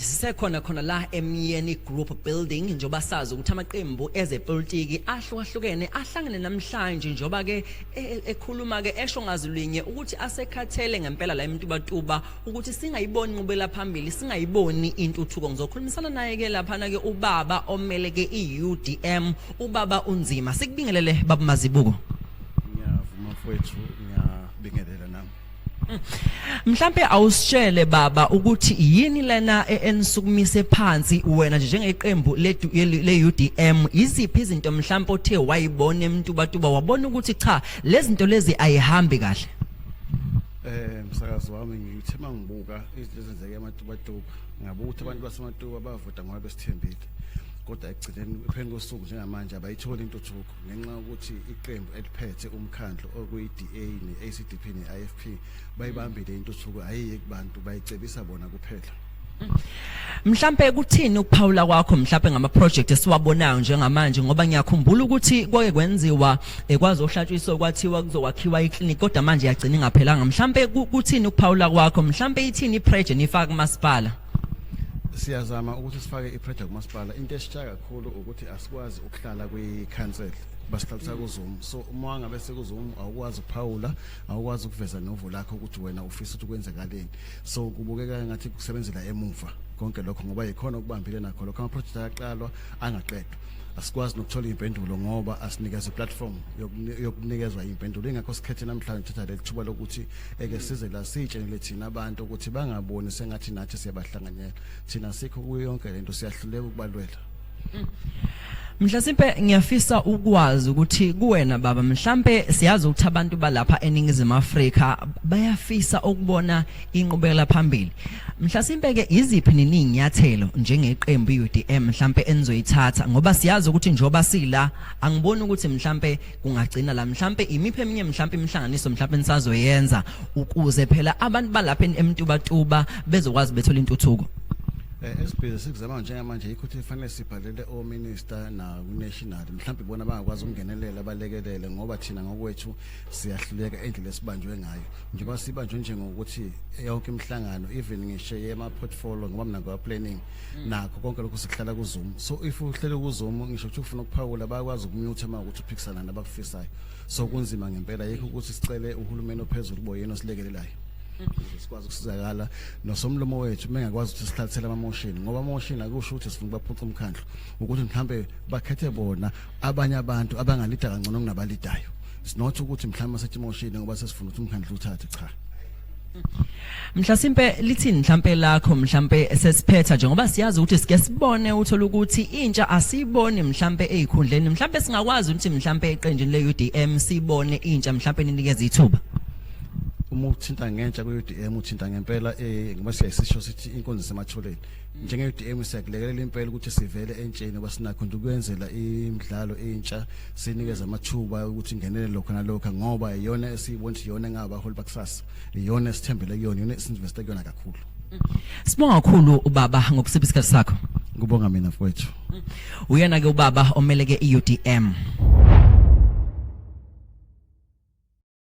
Sisekhona khona la eMyeni Group Building njengoba sazi ukuthi amaqembu ezepolitiki ahlukahlukene ahlangene namhlanje njengoba ke e, e, ekhuluma ke esho ngazilwinye ukuthi asekhathele ngempela la emtubatuba ukuthi singayiboni inqubela phambili singayiboni intuthuko ngizokhulumisana naye ke lapha na ke ubaba omele ke iUDM ubaba unzima sikubingelele babumazibuko Ngiyavuma mfowethu ngiyabingelela nami Mhlambe awusitshele baba ukuthi yini lena e-, enisukumise phansi wena nje njengeqembu le UDM iziphi izinto mhlambe othe wayibona emuntu batuba wabona ukuthi cha lezinto lezi ayihambi kahle Eh msakazi wami ngithe mangibuka izinto ezenzeke ematubatuba ngabuka ukuthi abantu basematuba bavota ngoba besithembile kodwa ekugcineni phezu kosuku njengamanje abayitholi intuthuko ngenxa yokuthi iqembu eliphethe umkhandlu okuyi-DA ne-ACDP ne-IFP bayibambile intuthuko ayiye kubantu bayicebisa bona kuphela Mhlambe kuthini ukuphawula kwakho mhlambe ngama project esiwabonayo njengamanje ngoba ngiyakhumbula ukuthi kwake kwenziwa ekwazi eh, ohlatshwiso kwathiwa kuzokwakhiwa iclinic kodwa manje yagcina ingaphelanga mhlambe kuthini ukuphawula kwakho mhlambe ithini iproject nifaka kumasipala siyazama ukuthi sifake iproject kumasipala into esisha kakhulu ukuthi asikwazi hlala kwi council basihlalisa mm. kuzoom so uma wangabe sekuzoom awukwazi ukuphawula awukwazi ukuveza novo lakho ukuthi wena ufisa ukuthi kwenzekaleni so kubukeka ngathi kusebenzela emuva konke lokho ngoba yikhona okubambile nakho lokho ama project ayaqalwa angaqedwa asikwazi nokuthola impendulo ngoba asinikeza platform yokunikezwa impendulo ingakho sikhethe namhlanje thatha lethuba lokuthi eke size la sitshenele thina abantu ukuthi bangaboni sengathi nathi siyabahlanganyela thina sikho kuyo yonke lento siyahluleka ukubalwela Mhlasimpe ngiyafisa ukwazi ukuthi kuwena baba mhlambe siyazi ukuthi abantu balapha eningizimu Afrika bayafisa ukubona inqubekela phambili. Mhlasimpe ke iziphi neninyathelo njengeqembu iUDM mhlambe enizoyithatha ngoba siyazi ukuthi njoba sila angiboni ukuthi mhlambe kungagcina la mhlambe imiphe eminye mhlambe imihlanganiso mhlambe nisazoyenza ukuze phela abantu balapha emntubatuba bezokwazi bethola intuthuko. Eh, esibhizi sikuzama njengamanje yikho ukuthi fanele sibhalele ominister nakunational mhlawumbe ibona bangakwazi ukungenelela balekelele ngoba thina ngokwethu siyahluleka endlela esibanjwe ngayo njengoba sibanjwe njengokuthi yonke imihlangano even ngisho yema-portfolio ngoba mina ngwa-planning mm. nakho konke lokhu sikuhlala kuzoom so if uhlele kuzoom ngisho ukuthi ufuna ukuphawula bayakwazi ukumyutha uma ukuthi uphikisana nabakufisayo so kunzima ngempela yikho ukuthi sicele uhulumeni ophezulu boyena osilekelelayo ukuze sikwazi ukusizakala nosomlomo wethu mengakwazi ukuthi sihlathele amamoshini ngoba amamoshini akusho ukuthi sifuna ukubaphuca umkhandlu ukuthi mhlambe bakhethe bona abanye abantu abangalida kangcono kunabalidayo sinotho ukuthi mhlawumbe asethi emoshini ngoba sesifuna ukuthi umkhandlu uthathe cha Mhlasimpe lithini mhlambe lakho mhlambe sesiphetha nje ngoba siyazi ukuthi sike sibone uthola ukuthi intsha asiboni mhlambe ezikhundleni mhlambe singakwazi ukuthi mhlambe eqenjini leUDM sibone intsha mhlambe ninikeze ithuba uma uthinta ngentsha kuUDM uthinta ngempela eh ngoba siyasisho sithi inkonzo sematholeni njenge-dm siyakulekelela impela ukuthi sivele entsheni kwasinakho nje ukuyenzela imidlalo entsha sinikeze amathuba ukuthi ingenele lokho nalokho ngoba iyona esiyibona ukuthi iyona engabaholi bakusasa iyona esithembele kuyona iyona esinveste kuyona kakhulu Sibonga kakhulu ubaba ngokusipha isikhathi sakho. Ngibonga mina mfowethu. Uyena ke ubaba omeleke iUDM.